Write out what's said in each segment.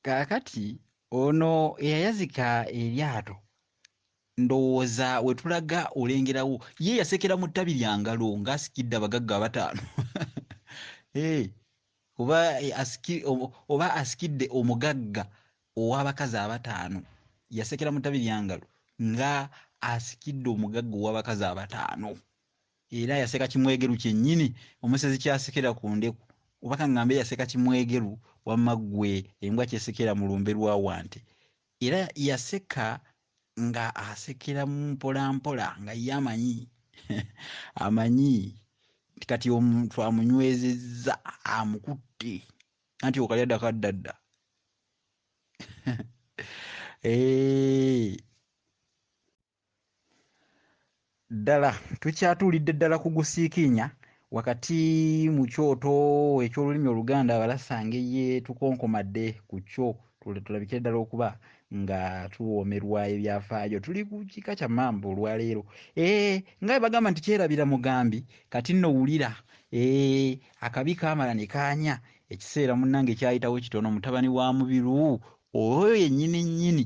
kaakati ono eyayazika eryato ndowooza wetulaga olengerawo ye yasekera mu ttabi lya ngalo ng'asikidde abagagga abataano eh, oba oba asikidde omugagga ow'abakazi abataano yasekera mu ttabi lya ngalo nga asikidde omugagga ow'abakazi abataano Era yaseka kimwegeru kyennyini omusezi ky'asekera ku ndeku. Oba ka ŋŋambe yaseka kimwegeru wamma ggwe embwa ky'esekera mu lumbe lwa Wante. Era yaseka nga asekera mpolampola nga ye amanyi, amanyi nti kati omuntu amunywezezza, amukutte, anti okalya dda kadda dda. Eehh. ddala tukyatuulidde ddala ku gusiikiinya wakati mu kyoto eky'olulimi oluganda abalasanga eye tukonkomadde ku kyo tulabikire ddala okuba nga tuwoomerwa ebyafaayo tuli ku kika kya mamba olwaleero eh, nga bagamba nti kyerabira mugambi kati nno wulira eh, akabi kaamala ne kaanya ekiseera munnange kyayitawo kitono mutabani wa mubiru oyo yennyini nnyini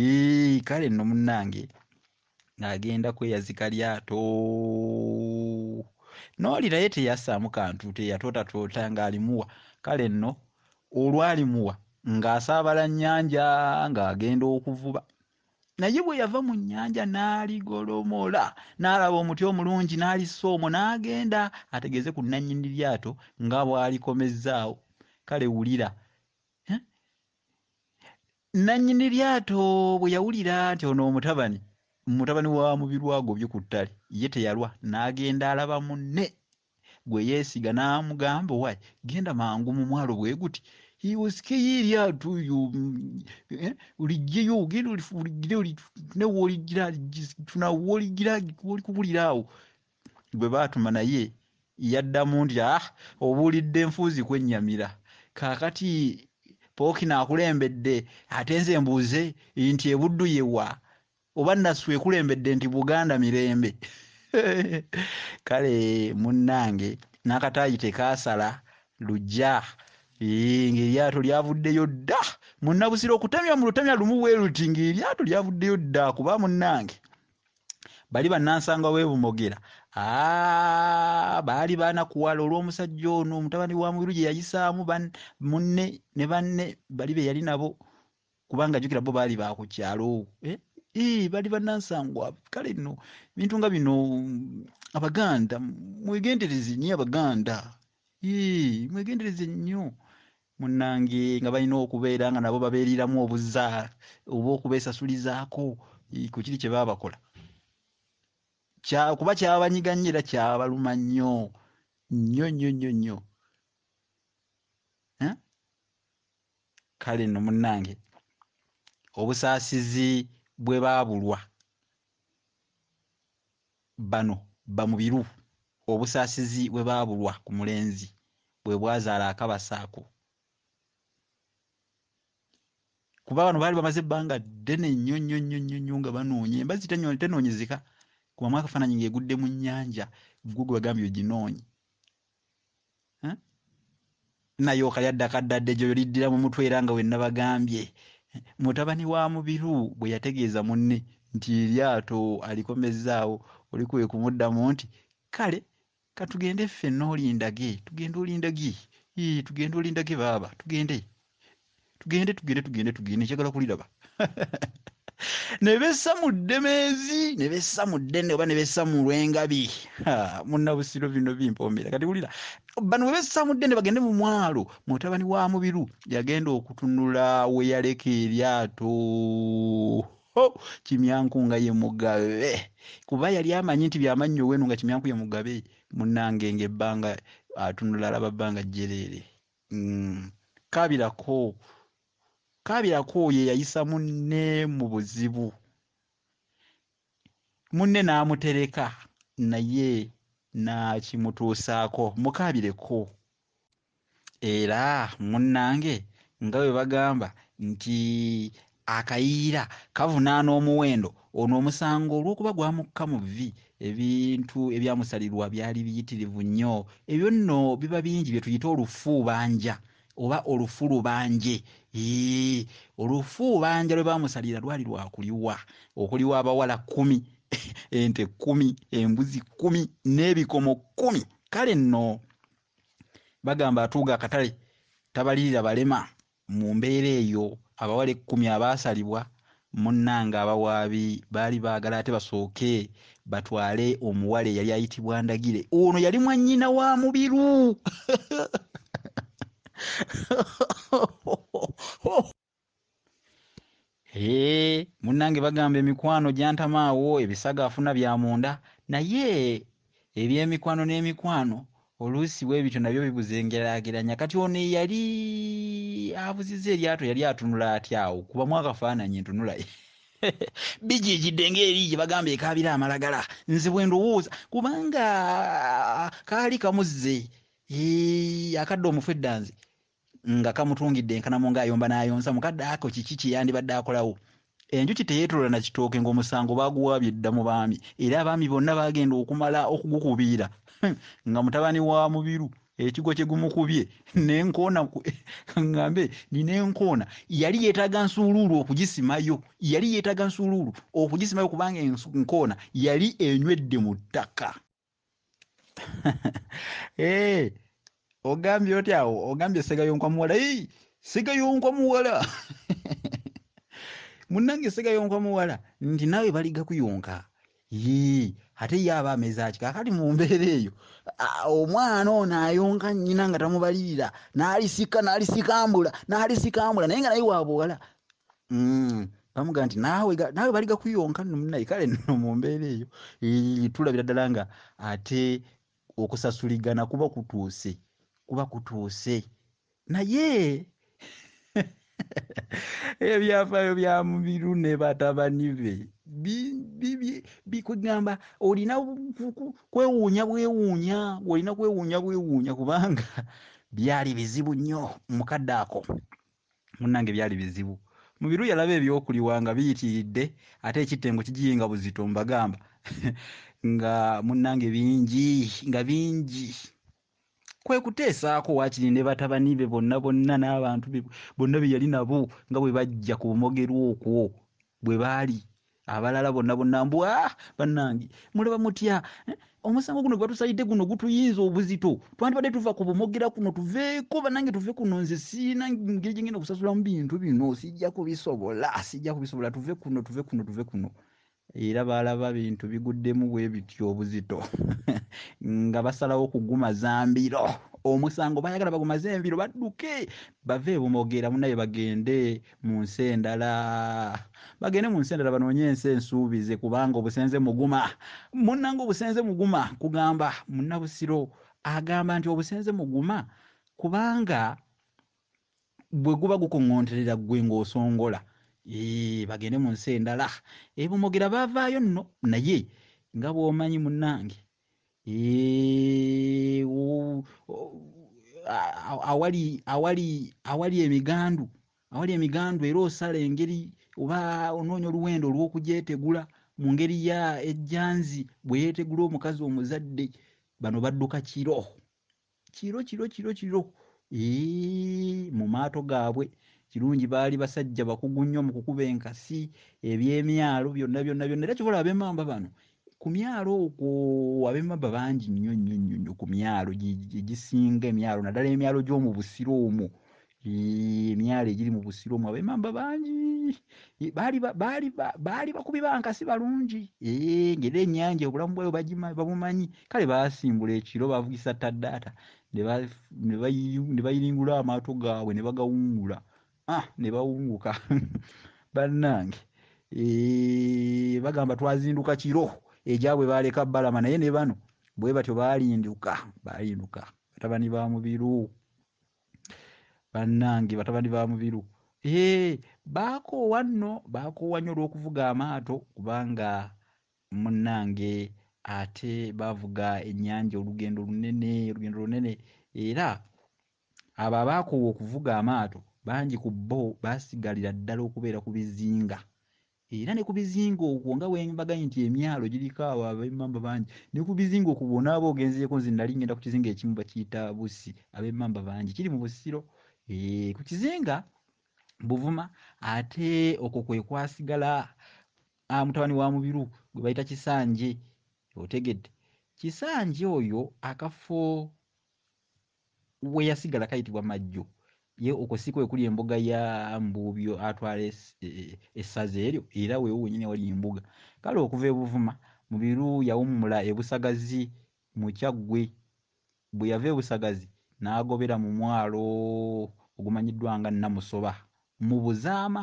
Eeii kale nno munnange ng'agenda kweyazika lyato n'oli naye teyasaamu kantu teyatootatoota ng'alimuwa kale nno olwalimuwa ng'asaabala nnyanja ng'agenda okuvuba naye bwe yava mu nnyanja n'aligolomola n'alaba omuti omulungi n'alissa omwo n'agenda ategeeze ku nnannyini lyato nga bw'alikomezzaawo kale wulira Nnannyini lyato bwe yawulira nti ono omutabani mutabani wa Mubiru agobye ku ttale, ye teyalwa n'agenda alaba munne gwe yeesiga n'amugamba owaaye genda mangu mu mwalo bwe guti osikeyo eryato yo eh, oliggyeyo ogenda oliggire olitune wooligira tunawo wooligira wolikubulira awo gwe baatuma naye yaddamu nti ah obuulidde nfuuzi kwennyamira kaakati pookino akulembedde ate nze mbuuze nti ebuddu yewa oba nasu ekulembedde nti buganda mirembe kale munnange n'akataayi tekaasala lujja ng'eryato lyavuddeyo dda munnabusiro okutemya mu lutemya lumu bwe luti ng'eryato lyavuddeyo dda kuba munnange bali bannansangwa w'e Bumogera aa, baali baanakuwala olw'omusajja ono mutabani wa Mubiru gye yayisaamu ban- munne ne banne bali be yali nabo kubanga jjukira bo baali ba ku kyalo eh? Ii, bali bannansangwa kale nno ebintu nga bino mm, abaganda mwegendereze nnyo abaganda Ii, mwegendereze nnyo munange nga balina okubeera nga nabo babeeriramu obuza oba okubeesasulizaako eh, ku kiri kye baba bakola Kya- kuba kyabanyiga nnyo era kyabaluma nnyo nnyo nnyo nnyo nnyo Eh? kale nno munnange obusaasizi bwe baabulwa Bano bamubiru obusaasizi bwe baabulwa ku mulenzi bwe bwazaala akabasa ako kuba bano baali bamaze ebbanga ddene nnyo nnyo nnyo nnyo nnyo nga banoonya embazzi tenoonyezeka kubamu akafaananyi ng'egudde mu nnyanja ggwe gwe bagambye oginoonye Eh? naye okayadda kaddadde gyo yoliddira mu mutwe era nga wennabagambye mutabani wa mubiru bwe yategeeza munne nti eryato alikomezzaawo oli kwe kumuddamu nti kale katugende ffe noolindage tugende olindagi tugende olindage baaba tugende tugende tugende tugende tugende njagala kuliraba ne bessa mu ddemeezi ne bessa mu ddene oba ne bessa mu lwengabi munnabusiro bino bimpombera kati wulira bano bwe bessa mu ddene bagende mu mwalo mutabani wa mubiru yagenda okutunula we yaleka eryato ho kimyanku nga ye mugabe kuba yali amanyi nti byamannyo wenu nga kimyanku ye mugabe munnange ng'ebbanga atunula alaba bbanga jjereere Mm, kaabirako kaabirako oyo eyayisa munne mu buzibu munne n'amutereka naye n'akimutuusaako mukaabireko era munnange nga bwe bagamba nti akayiira kavunaana omuwendo ono omusango olw'okuba gwamukka mu vvi ebintu ebyamusalirwa byali biyitirivu nnyo ebyo nno biba bingi bye tuyita olufuubanja oba olufu lubanje olufuubanja lwe baamusalira lwali lwakuliwa okuliwa abawala kkumi ente kkumi embuzi kkumi n'ebikomo kkumi kale nno bagamba atuuga akatale tabalirira balema Mu mbeera eyo, abawala ekkumi abaasalibwa, munnange, abawaabi baali baagala ate basooke batwale omuwala eyali ayitibwa Ndagire. Ono yali mwannyina wa Mubiru. Hee munange bagamba emikwano jantama awo ebisago afuna bya munda naye ebyemikwano nemikwano oluusi bwebityo nabyo bibuza engerageranya kati ono eyali abuziza eryato yali atunula atya awo kubamu akafaananyi ntunulaye bijijidde ngaeri gye bagamba ekaabira amalagala nze bwe ndowooza kubanga kaali kamuzze akadde omufu eddanzi nga kamutungidde enkanamu ng'ayomba n'ayonsa mu kadde ako kiki kye yandibadde akolawo enjuki teyeetolola na kitooke ng'omusango baaguwaabye dda mu baami era abaami bonna baagenda okumala okugukubiira hmm, nga mutabani wa mubiru ekigwo kye gumukubye nenkoona ngambe nina enkoona yali yeetaaga nsuuluulu okugisimayo yali yeetaaga nsuuluulu okugisimayo kubanga enkoona yali enywedde mu ttaka hey, eh, ogambye oti awo ogambye segayonkwa muwala hey, segayonkwa muwala munange segayonkwa muwala nti nawe baliga kuyonka yii ate ye aba amezaki kakati mu mbeera eyo omwana ono ayonka nnyina nga tamubalirira n'alisika n'alisikambula n'alisikambula naye nga naye wabuwala mm. bamuga nti naawe naawe bali gakuyonka nno munaye kale nno mu mbeera eyo tulabira ddala nga ate okusasuligana kuba kutuuse kuba kutuuse naye ebyafaayo bya mubiru ne batabani be bikugamba olina kwewuunya bwewuunya olina kwewuunya bwewuunya kubanga byali bizibu nnyo mukadde ako munnange byali bizibu. Mubiru yalaba ebyokuliwa nga biyitiridde ate ekittengo kigiyenga buzito mbagamba nga munnange bingi nga bingi kwe kuteesaako waakiri ne batabani be bonna bonna n'abantu be bonna be yali nabo nga bwe bajja ku bumogerwa okwo bwe baali abalala bonna bonna mbu a ah, bannange mulaba mutya eh, omusango guno gwatusalidde guno gutuyinza obuzito twandibadde tuva ku bumogera kuno tuveeko bannange tuve kuno nze siina ngeri gyengenda okusasulamu bintu bino sijja kubisobola sijja kubisobola tuve kuno tuve kuno tuve kuno era baalaba bintu biguddemu bwe biti obuzito nga basalawo kugumaza mbiro omusango bayagala bagumaze embiro badduke bave ebumogera munaye bagende mu nsi endala bagende mu nsi endala banoonye ensi ensuubize kubanga obusenze muguma munnanga obusenze muguma kugamba munnabusiro agamba nti obusenze muguma kubanga bwe guba gukuŋŋoonterera ggwe ng'osongola bagende mu nsi endala ebumogera baavaayo nno naye nga bw'omanyi munnange Eh, u- u- a- a- awali awali awali emigandu awali emigandu era osala engeri oba onoonya oluwenda olw'okugyetegula mu ngeri ya ejjanzi bwe yeetegula omukazi omuzadde bano badduka kiro kiro kiro kiro kiro mu maato gaabwe kirungi baali basajja bakugu nnyo mu kukuba enkasi ebyemyalo byonna byonna byonna era kyobola abemamba bano ku myalo okwo abemamba bangi nnyo nnyo nnyo nnyo ku myalo egisinga emyalo naddala emyalo gy'omu busiro omwo Yii, emyalo egiri mu busiro omwo abemamba bangi Yii, baali ba- baali ba- baali bakubi bankasi balungi Ee, ng'era ennyanja obulamu bwayo bagima- babumanyi kale baasimbula ekiro bavugisa taddaata ne ba- ne bayi- ne bayiringula amaato gaabwe ne bagawungula ah, ne bawunguka bannange Ee, bagamba twazinduka kiro egyabwe baaleka balama naye ne bano bwe batyo baalinduka baalinduka batabani ba mubiru bannange batabani ba mubiru ee baakoowa nno baakoowa nnyo olw'okuvuga amaato kubanga munnange ate baavuga ennyanja olugendo lunene olugendo lunene era abo abaakoowa okuvuga amaato bangi ku bo baasigalira ddala okubeera ku bizinga Era ne ku bizinga okwo nga bwe mbaganye nti emyalo giriko abo ab'emmamba bangi, ne ku bizinga okwo bw'onaaba oba ogenzeeko nze nnali ŋŋenda ku kizinga ekimu bakiyita Bussi, ab'emmamba bangi, kiri mu Busiro. Eeh, ku kizinga Buvuma ate okwo kwe kwasigala ah, mutabani wa Mubiru gwe bayita Kisanje. Otegedde? Kisanje oyo akafo weyasigala kayitibwa majjo ye okwo si kwe kuli embuga ya mbuubyo atwala es- e- e- essaza eryo era weewo wenyini awali embuga kale okuva e buvuma mubiru yawummula e busagazi mu kyaggwe bwe yava e busagazi n'agobera mu mwalo ogumanyiddwa nga namusoba mu buzaama